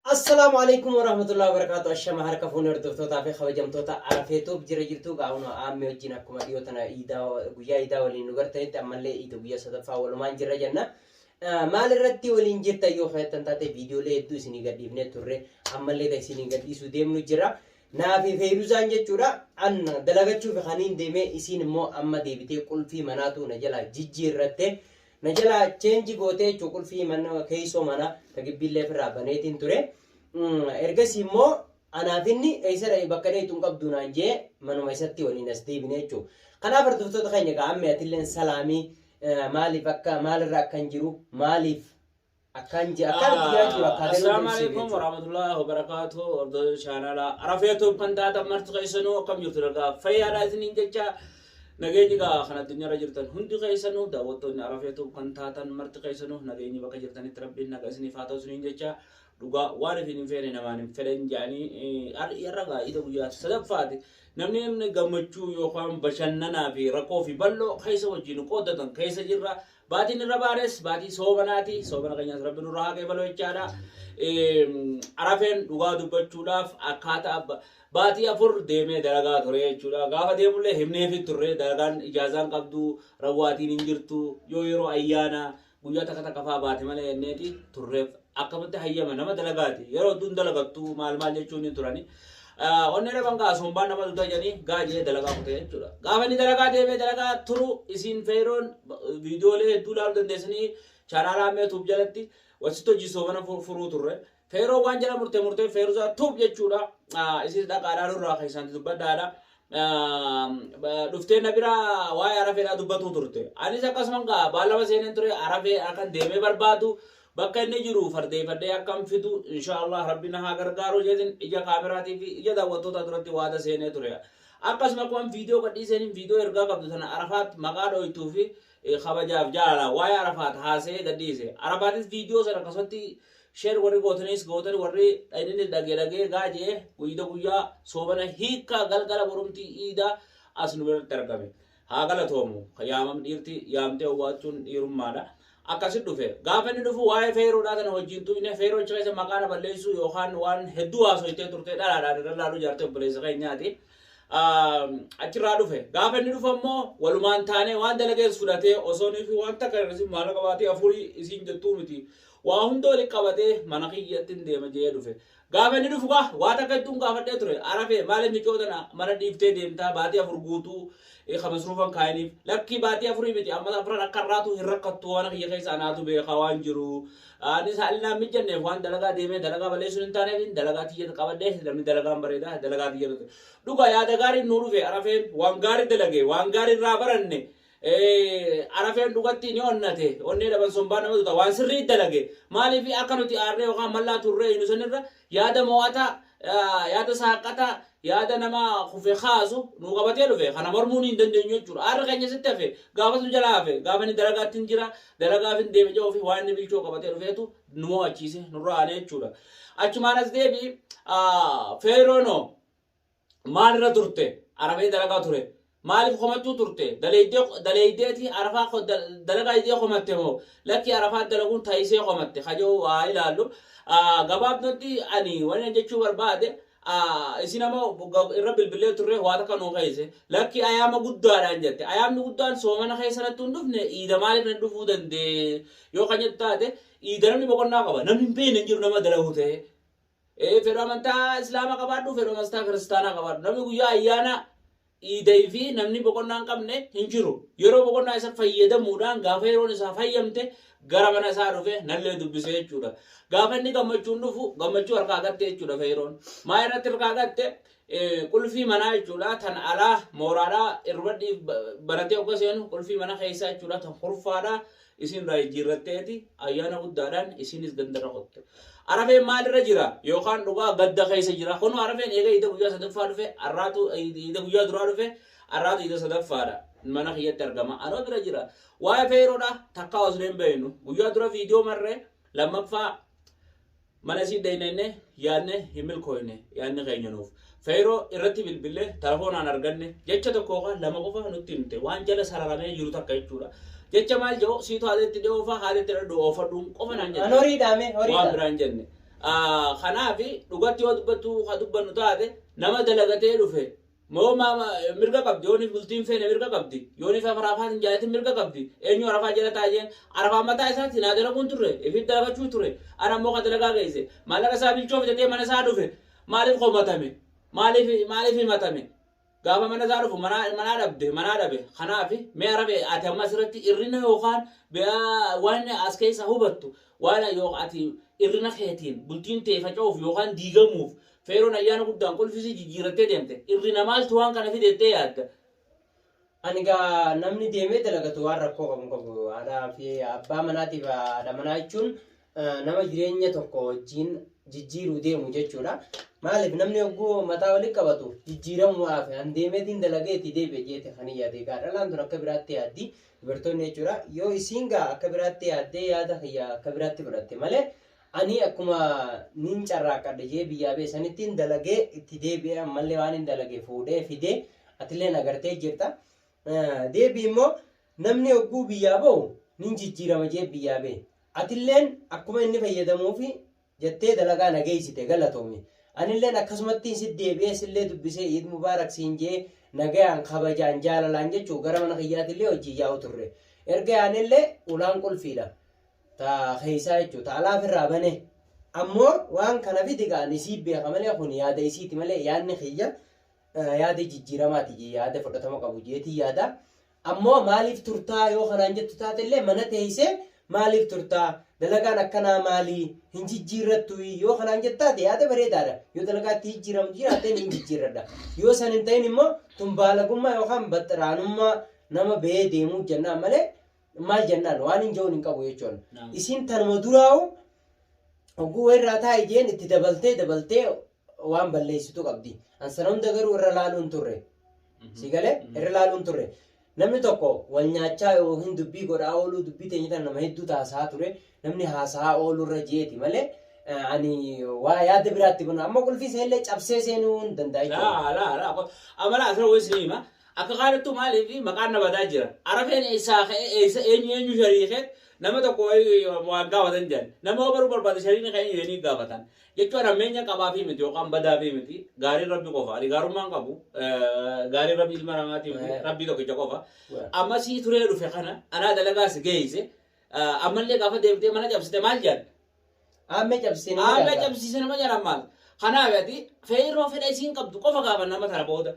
Assalaamu Aleykum Warahmatullahi Wabarakatuh Ashama harka fuune hordoftoota fi kabajamtoota Arafee Tube jira jirtu gaa'uno aamme wajjin akkuma dhiyoo tana iidaa guyyaa iidaa waliin nu gartanitti ammallee iida guyyaa sadaffaa walumaan jirra jenna. Ah, Maal irratti waliin jirta yoo keessan taate viidiyoolee hedduu isinii gadhiifnee turre ammallee kan isinii gadhiisuu deemnu jira. Naa fi Feeruzaan jechuudha an dalagachuuf kaniin deemee isiin immoo amma deebitee qulfii manaatu na jalaa jijjiirratte. Na jalaa cheenji gootee jechuun qulfii mana keessoo mana ka gibbiillee ofirraa baneetiin ture. Ergasii immoo anaaf inni eessa dha'e bakka dheetu hin qabdu naan jee manuma isatti waliin as deebine jechuudha. Kanaaf hordoftoota keenya egaa ammee atilleen salaamii maaliif akka maalirra akka hin jiru maaliif Akkaan jira. Akkaan itti jiraa jiru. Akkaan Assalaamu alaikum warahmatullahi wabarakatuh. Hordoftoota chaanala Arafee Tube kan taatan marti keessanuu akkam jirtu nagaa fayyaadha isiniin jecha nageenyi gaa kan addunyaarra jirtan hundi keessanuu daawwattoonni Arafee Tube kan taatan marti keessanuu nageenyi bakka jirtanitti rabbiin nagaa isiniif haa ta'u isiniin jecha dhugaa waan ifiin hin feene namaan hin fedhan jedhanii har'a gaa ija guyyaa sadaffaati namni namni gammachuu yookaan bashannanaa fi rakkoo fi bal'oo keessa wajjin qoodatan keessa jirra Baatiin irra baanes baatii soobanaati. Soobana keenyas rabbi nurraa haa qeebalu jechaadha. Eem, Arafeen dhugaa dubbachuudhaaf akkaataa ba- baatii afur deemee dalagaa ture jechuudha. Gaafa deemullee himneefi turre dalagaan ijaazaan qabdu rawwaatiin hin jirtu yoo yeroo ayyaana guyyaa takka takka fa'aa baate malee jenneeti turreef akkamitti hayyama nama dalagaati yeroo hedduun dalagattu maal maal jechuun ni turani. Onnee dhaban gaa sombaan nama duta jedhanii gaa jedhee dalagaa kutee jechuudha. Gaafa inni dalagaa deemee dalagaa turu isiin feeroon viidiyoolee hedduu ilaaluu dandeessanii chaanaalaa mee tuub jalatti wasitti hojii soomana furuu turre. Feeroo waan jala murtee murtee feerusaa tuub jechuudha. Isiin dhaqaadhaa nurraa keessanti dubbadhaadha. Dhuftee na bira waa'ee arafeedhaa dubbatuu turte. Anis akkasuman gaa baallama seeneen ture arafee akkan deemee barbaadu. Bakka inni jiru fardeeyfadhee akkan fidu inshaa Allaah Rabbi na haa gargaaru jedheen ija kaameraatii fi ija daawwattootaa duratti waada seenee ture. Akkasuma akkuman viidiyoo gadhiiseen viidiyoo ergaa qabdu tana Arafaat maqaa dhooytuu fi kabajaaf jaalalaan waa'ee Arafaat haasa'ee gadhiise. Arafaatis viidiyoo sana akkasumatti sheer warri gootaniis gootani warri dhayininnis dhagee dhagee gaa je'ee guyda guyyaa soomana hiikkaa galgala borumtii iidaa as nu biratti argame. Haa galatoomu. Yaamam dhiirti yaamtee owwaachuun dhiirummaadha. Akkasi dhufe. Gaafa inni dhufu waa'ee feeroodhaa tana hojii hin tuqne feeroo achi keessa maqaa na balleessuu yookaan waan hedduu haasoytee turte dhalaadhaan irra laaluu jaartee obboleessa keenyaati. Achirraa dhufe. Gaafa inni dhufu ammoo walumaan taanee waan dalagees fudhatee osoo nuyi waan takka irratti maala qabaatee afurii isiin jettuu miti. Waa hunda walitti qabatee mana kiyyatti hin deema jee dhufe. Gaafa inni dhufu kaa waa takka ittuun gaafadhee ture arafee maaliif micoo tana mana dhiiftee deemtaa baatii afur guutuu ka masruufan kaayiniif lakkii baatii afurii miti amma afran akka irraatu hin rakkattu mana kiyya keessa anaatu beekaa waan jiru anis haalli naan mijjanneef waan dalagaa deemee dalagaa balleessuun hin taaneefin dalagaa tiyya qabadhe namni dalagaan bareeda dalagaa tiyya dhuga yaada gaariin nuu dhufe arafeen waan gaarii dalage waan gaarii irraa baranne Arafeen dhugatti ni onnate, onnee dhaban sombaa nama tuta, waan sirrii dalage. Maaliif akka nuti aarree yookaan mallaa turree hinu sanirra yaada mo'ataa, yaada saaqqataa, yaada nama kufe kaasu nu qabatee dhufe. Kana mormuu ni hin dandeenyu jechuudha. Aarri keenya sitti hafe, gaafas nu jalaa hafe. Gaafa inni dalagaatti hin jira, dalagaaf hin deeme jedhuu fi waan inni bilchoo qabatee dhufeetu nu mo'achiise, nurra aane jechuudha. Achumaan as deebi, Feeroonoo. Maal irra turte? Arabee dalagaa ture. Maaliif komachuu turte? Daleeydee daleeydeeti arafaa ko- da- dalagaa idee komatte moo? Lakkii arafaa dalaguun taayisee komatte kajoo haa ilaallu. Ah, Gabaabdatti ani wani an jechuu barbaade ah, isin ama ga- irra bilbillee turre waa takka nuu keeyse. Lakkii ayaama guddaadhaan jette. Ayaamni guddaan soomana keessa nattu hin dhufne iida maaliif natti dhufuu dandee? Yoo kan jettu taate iida namni boqonnaa qaba. Namni hin beeyne hin jiru nama dalagu ta'ee. Ee fedhu amantaa islaama qabaadhu fedhu amantaa kiristaanaa qabaadhu namni guyyaa ayyaana iiday fi namni boqonnaa hin qabne hin jiru yeroo boqonnaa isa fayyadamuudhaan gaafa yeroon isaa fayyamte gara mana isaa dhufe nallee dubbise jechuudha gaafa inni gammachuun dhufu gammachuu harkaa gatte jechuudha feeroon maa irratti harkaa gatte qulfii manaa jechuudha tan alaa mooraadhaa irratti baratee akka seenu qulfii mana keessaa jechuudha tan kurfaadhaa Isiin irraa jijjiirratteeti, ayyaana guddaadhaan isiinis gandarra kotte. Arafeen maalirra jira? Yookaan dhugaa gadda keessa jira. Kunoo arafeen eega iida guyyaa sadaffaa dhufe, arraatu iida guyyaa duraa dhufe, arraatu iida sadaffaadha. Mana kiyyatti argama. Anoo bira jira. Waa'ee feeroodha takkaa osoo hin beeknu. Guyyaa dura viidiyoo marree lammaffaa Mana isii deeynee yaadne hin milkooyne yaadni keenya nuuf. Feeroo irratti bilbille telefoonaan arganne jecha tokko yookaan lama qofa nutti himte waan jala sararamee jiru takka jechuudha. Jecha maal jedhu siitu haala itti dhiyoo fa'aa haala itti dhadhu oofadhuun qofa naan jette. An horii dhaame horii Waan dhaame. biraa hin jenne. Ah, Kanaaf dhugatti yoo dubbattu ka dubbannu taate nama dalagatee dhufe Moo ma, ma, mirga qabdi yooni bultiin feene mirga qabdi yooni fa farafaa sin jaalatin mirga qabdi eenyu arafaa jala taa jeen arafaan mataa isaa sin haa dalaguun turre ifit dalagachuu ture an ammoo ka dalagaa geesse maallaqa isaa bilchoo fitatee mana isaa dhufe maaliif komatame maaliif maaliif himatame gaafa mana isaa dhufu manaa manaa dhabde manaa dhabe kanaafi mee arabe ati amma asirratti irrina yookaan biyaa waan as keessa hubattu waan yoo ati irrina keetiin bultiin tee faca'uuf yookaan diigamuuf Feeroon ayyaana guddaan qulfisii jijjiirattee deemte. Irrina maaltu waan kana fide jettee yaadda? Ani gaa namni deemee dalagatu waan rakkoo qabu hin qabu. Haadhaa fi abbaa manaatiif haadha manaa jechuun eh, nama jireenya tokko wajjin jijjiiruu deemu jechuudha. Maaliif namni yogguu mataa walitti qabatu jijjiiramuudhaaf an deemeetiin dalageetii deebi'e jeete kan hin yaade. Gaa dhalaan tun akka biraatti yaaddi dubartoonni jechuudha. Yoo isiin gaa akka biraatti yaaddee yaada kiyya akka biraatti fudhatte malee Ani akkuma nin carraaqqadhe jedhee biyyaa ba'e sanittiin dalagee itti deebi'ee ammallee waan hin dalage fuudhee fidee atilleen agartee jirta. Deebii immoo namni hogguu biyyaa ba'u nin jijjiirama jedhee biyyaa ba'e. Atilleen akkuma inni fayyadamuufi jettee dalagaa na geessite galatoomi. Anilleen akkasumattiin si deebi'ee sillee dubbisee Iid Mubaarak siin jedhee nagayaan kabajaan jaalalaan jechuu gara mana kiyyaatillee hojii yaa'u turre. Erga yaanellee ulaan qulfiidha. ta keessaa jechuudha ta alaa firraa banee ammoo waan kana fidi kaan isii beeka malee kun yaada isiiti malee yaadni kiyya eh, yaada jijjiiramaati jee yaada fudhatama qabu jeetii yaada ammoo maaliif turtaa yoo kanaan jettu taatellee mana teessee maaliif turtaa dalagaan akkanaa maalii hin jijjiirrattu yoo kanaan jettaate yaada bareedaadha yoo dalagaatti jijjiiramtu jiraatteen hin jijjiirradha yoo san hin ta'in immoo tun baalagummaa yookaan baxxiraanummaa nama ba'ee deemuu jennaan malee maal jennaan waan hin je'uun hin qabu jechuun Naam. isiin tanuma duraa'u hogguu irraa taa'i jeen itti dabaltee dabaltee waan balleessitu qabdi an sana hunda garuu irra laaluun turre si galee irra laaluun turre namni tokko wal nyaachaa yookiin dubbii godhaa ooluu dubbii teenya tana nama hedduu taasaa ture namni haasaa oolurra jeeti malee eh, ani waa yaada biraatti bana amma qulfii seenillee cabsee seenuu hin danda'a jechuudha. Laa laa laa amala asirra wayii sinii hima Akka kaanittuu maaliif maqaan na badaa jira? Arafeen eessaa ka'e? Eessa eenyu eenyu shariike? Nama tokko wayii waan gaafatan jedhan. Nama yoo baruu barbaade shariikni kee eenyu jedhanii gaafatan. Jechuun hammeenya qabaafii miti yookaan badaafii miti. Gaariin Rabbi qofa. Ani gaarummaa hin qabu. Eh, Gaariin Rabbi ilma namaatiif miti. Eh. Rabbii tokkicha qofa. Waa. Amma sii turee dhufe kana anaa dalagaa si geeyse. Ah, Ammallee gaafa deemtee mana cabsite maal jedhan? Aammee cabsisee nama Aammee jalqaba. cabsiise nama jalaan maal? Kanaaf ati feerroo fedha isiin qabdu qofa gaafa nama tana booda.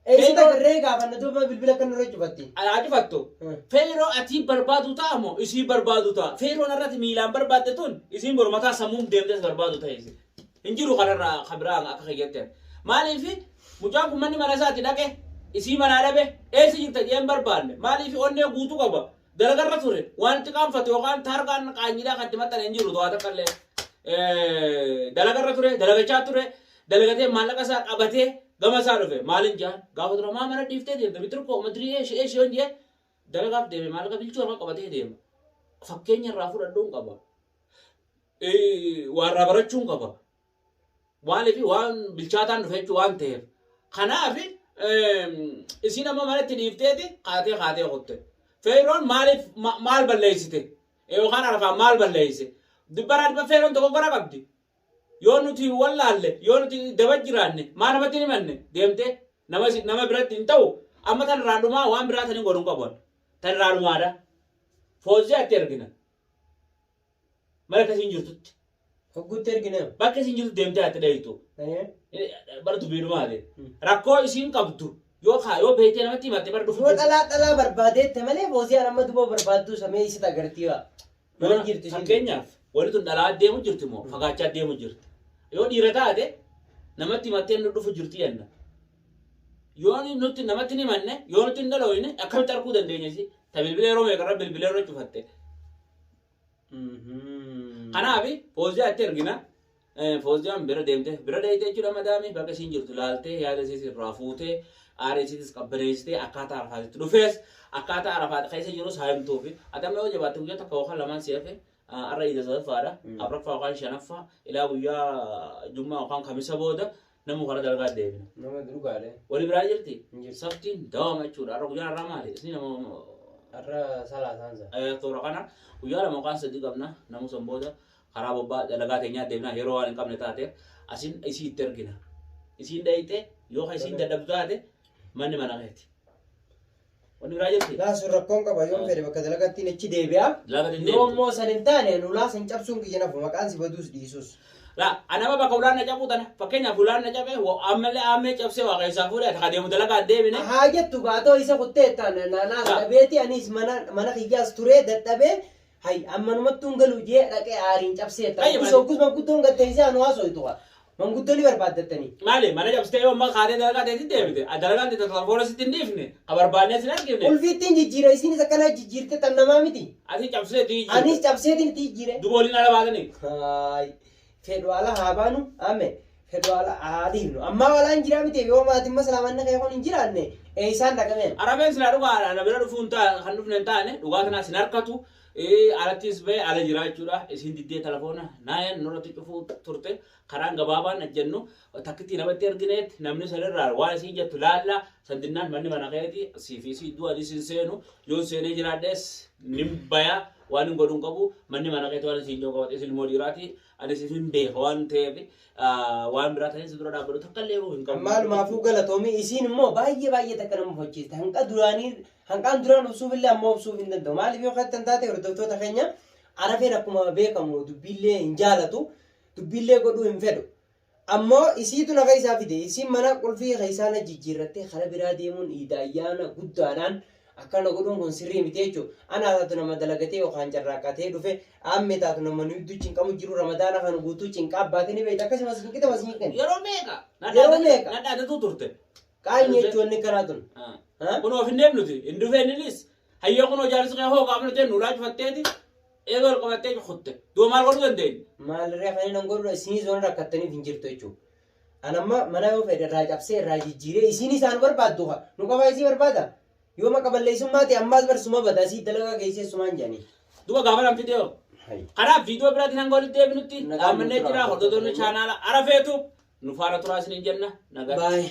Eessatti Feerroo- agarree gaafanna duuba bilbila akka nurra cufatti. Alaa cufattu. Hmm. Feerroo ati barbaadu ta'a moo isiin barbaadu ta'a? Feerroon irratti miilaan barbaadde tun isiin mormataa sammuun deemtes barbaadu ta'e isin. Hin jiru kanarraa kan biraa akka keeyyatti. Maaliif mucaan kun manni mana isaati dhaqe isii manaa dhabe eessa jirta jeen barbaanne maaliif onnee guutuu qaba Garagarra ture. Wanti qaanfate yookaan taargaan qaanyiidhaa kan itti maxxane hin jiru to'aa takka illee. Eh, Dalagarra ture, dalagachaa ture, dalagatee maallaqa isaa qabatee gama isaa dhufe. Maalin jaan? Gaafa dura maa mana dhiiftee deemte bitir koo madirii ee shi'ee shi'oon jee dalagaaf deeme maallaqa bilchuu harka qabatee deema. Fakkeenya irraa fudhadhuun qaba. Eh, Waarraa barachuun qaba. Maaliif waan bilchaataan dhufe jechuu waan ta'eef. Kanaaf isiin amma manatti dhiifteeti kaatee kaatee kutte. Feeroon maaliif maal balleessite? Yookaan arfaan maal balleesse? Dibbaraa dibba feeroon tokko gora qabdi. Yoo nuti wallaalle yoo nuti daba jiraanne maa namatti hin himanne deemte nama nama biratti hin ta'u amma tan irraa dhumaa waan biraa tan hin godhu hin qabu tan irraa dhumaadha. Foozii atti ergina. Mana akka isiin jirtutti. Hogguutti ergina. Bakka isiin jirtu deemtee ati dhayitu. Ee. Bara dubbiidhumaati. Hmm. Rakkoo isiin qabdu yoo kaa yoo beektee namatti himatte bara dhufu. Yoo dhalaa dhalaa barbaadeette malee booziyaan amma duba barbaadduu isa mee isita agartii waa. Mana hin jirtu isiin. Fakkeenyaaf wanni tun dhalaa deemu jirti moo fagaachaa deemu jirti. Yoo dhiira taate namatti himattee nu dhufu jirti jenna. Yoo ni- nutti namatti hin himanne yoo nutti hin dhalooyne akkamitti arguu dandeenya isii? Ta bilbila yeroo meeqarra bilbila irra cufatte. Kanaaf fooziyaa itti ergina. Fooziyaan bira deemte bira deemte jechuudha madaamii bakka isiin jirtu laaltee yaada isiis irraa fuutee aarii isiitis qabbaneessitee akkaataa arafaatitti dhufees akkaataa arafaat keessa jirus haa himtuufi adamma yoo jabaatte guyyaa takka yookaan lamaan si hafe arra iida sadaffaadha afraffaa yookaan shanaffaa ilaa guyyaa jummaa yookaan kamisa booda Namuu karaa dalagaa deebina. Nama dhugaadha. Wali biraa jirti. Hin jirtu. Saftiin dawaama jechuudha. Har'a guyyaa har'aa maali? Isni nama Har'a salaataan sana. eh, toora kana guyyaa lama yookaan sadii qabna. Namuu san booda karaa bobbaa dalagaa teenyaa deebina. Yeroo waan hin qabne taate asin isii itti ergina. Isiin dhayxee yoo ka isiin dadhabdu taate manni mana keeti. Wanni biraa jirti. Laa sun rakkoon qaba yoon fedhe bakka dalagattiin achi deebi'a. Laga hin Yoo deebi'u. immoo san hin taane lulaa san cabsuun kiyya nafu maqaan si baduus dhiisus. La, anama bakka ulaan na cabuu tana. Fakkeenyaaf ulaan na cabe, wa- ammallee aammee cabsee waa keessaa fuudhe, akka deemu dalagaa hin deebine. Haa jettu baatoo isa kuttee taan naanaas Haa. dhabeeti anis mana mana kiyyaas turee dadhabee Hay ammanumattuu hin galuu jee dhaqee aariin cabsee jetta. Hayya, Hoggus maali? hoggus manguddoon gad teessee anu haasooytu kaa. Manguddoo ni barbaaddattanii. Maali mana cabsitee yoo ammaa kaatee dalagaa teetti deebite dalagaan teetti telefoona sitti hin dhiifne ka barbaannee sin argifne Ulfiittiin jijjiira isiinis akkana jijjiirte tan namaa miti. ati cabsitee itti jijjiirte. Anis cabseetiin itti jijjiire. Duba waliin ala baatanii. Haay. fedhu ala haa baanu amme fedhu ala haa dhiifnu ammaa walaan jiraa miti yoo maatiin maslaamanna kee kun hin jiraanne eeysaan dhaqameen Arabeen silaa dhugaa ana bira dhufuun taa kan dhufne hin taane dhugaa tanaa sin harkatu eh, alattis ba'e ala jiraa jechuudha isiin diddee telefoona naayan nurratti cufuu turte karaan gabaabaan ajjannu takkittii namatti ergineet namni sanirraa waan isiin jettu laalla San dinnaan manni mana keeti siif isii iddoo ani isin seenu yoon seenee jiraadhes nin baya waan hin godhun qabu manni mana keeti waan isin yoo qabate isin immoo dhiiraati ani isin hin beeka waan ta'eef waan biraa ta'ee si dura dhaabbadhu takka illee hin qabu. Maalumaafuu galatoomii isiin immoo baay'ee baay'ee takka nama mufachiiste hanqa duraanii hanqaan duraan obsuuf illee ammoo obsuuf hin danda'u maaliif yoo kan taate hordoftoota keenya arafeen akkuma beekamu dubbiillee hin jaalatu dubbiillee godhuu hin fedhu Ammo isiitu na keessa fide, isiin mana qulfii keessaa na jijjiirrattee karaa biraa deemuun iida ayyaana guddaadhaan akkana godhuun kun sirrii miti jechu. Anaa taatu nama dalagatee yookaan carraaqqatee dhufe, aammee taatu nama nu idduu cinqamu jiru ramadaana kana guutuu cinqaa baate ni beekta akkasii masgiin qita masgiin kenna. Yeroo meeqa? Yeroo meeqa? Na dhaadatuu turte. Qaanyi jechu wanni kanaa tun. Kunoo finneef nuti hin dhufeen ilis. Hayyoo kunoo jaarsi kee hoo gaafna jennu ulaa cufatteeti. Eega ol qabattee cukutte. Duuba maal godhuu dandeenya? Maal ree kanneen an godhudha isinis waan rakkattaniif hin jirtu jechuudha. An amma mana yoo fedhe irraa cabsee irraa jijjiiree isiin isaan barbaaddu ka nu qabaa isii barbaada. Yoo maqa balleessummaa ta'e ammaas bar suma bada asii dalagaa geessee sumaan jedhanii. Duuba gaafa nan fidee hoo? Hayi. Kanaaf viidiyoo biraatiin hanga walitti deebinutti Nagaan dhaamannee nuuf jira. turaa. Hordoftoonni chaanaala Arafeetu nu faana turaa isiniin jenna. Nagaa. Baay'ee.